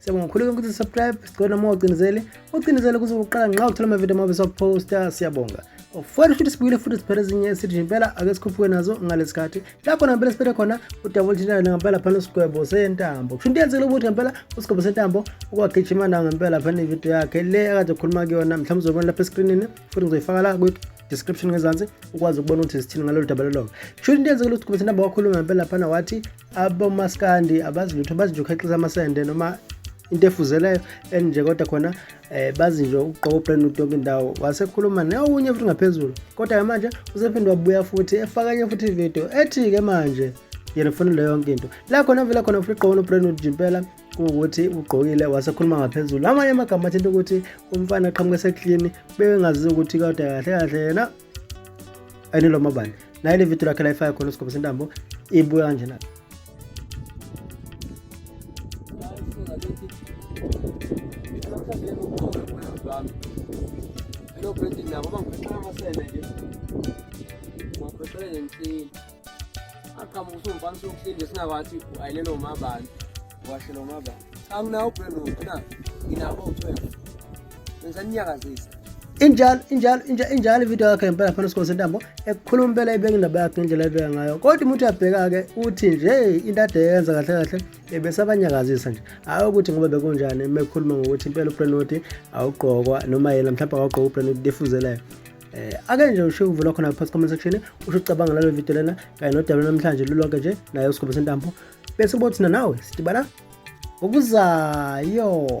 Siyabonga kakhulu konke ukuthi subscribe sicela noma ucinezele ucinezele kuze uqala nxa uthola amavidiyo amabe sokuposta siyabonga ofana futhi sibuyile futhi siphele ezinye sithi impela ake sikhuphuke nazo ngalesi khathi lapho nampela siphethe khona udabula thintana ngempela phana usigwebo sentambo kusho into yenzekile ukuthi ngempela usigwebo sentambo ukwagijima nawo ngempela phana ividiyo yakhe le akade ekhuluma kuyona mhlawumbe uzobona lapha eskrinini futhi ngizoyifaka la description ngezansi ukwazi ukubona ukuthi zithini ngalolu daba lolonga kusho into yenzekile ukuthi kubethi namba wakhuluma ngempela phana wathi abomaskandi abazi lutho bazi nje ukhexiza amasende noma into efuzeleyo and nje kodwa khona um eh, bazi nje ukugqoka ubrand new yonke indawo wasekhuluma neokunye futhi ngaphezulu kodwa-ke manje usephinde wabuya futhi efakanye futhi ividiyo ethi-ke manje yena kufanele yonke into la khona vele khona futhi igqoka nobrand new impela kuwukuthi ugqokile wasekhuluma ngaphezulu amanye amagama athinta ukuthi umfana aqhamuke eseklini bebengazizi ukuthi kodwa kahle kahle yena anilo mabani naye le video lakhe layifaka khona usigobisa intambo ibuya kanjena Lo Brandon nabo bangiphethe amasele nje. Ngaphethe nje aqhamuka usumfana sokuhleli singakwathi ayilelo umabani washelo umabani anginawo brand wonke na nginabo u-12 bengisaninyakazisa injalo injalo injalo ividiyo yakhe ngempela phana sikhona sentambo ekukhuluma impela ibeka indaba yakhe ngendlela ebeka ngayo kodwa umuntu uyabheka-ke uthi nje into ade yenza kahle kahle ebesabanyakazisa nje hhayi ukuthi ngoba bekunjani mekhuluma ngokuthi impela ubrenodi awugqokwa noma yena mhlawumbe awugqoka ubrenodi defuzelayo eh ake nje usho ukuvula khona phansi comment section usho ucabanga lalo video lena kanye nodaba namhlanje lulonke nje naye usigobo sentambo bese ubothi nawe sidibana ngokuzayo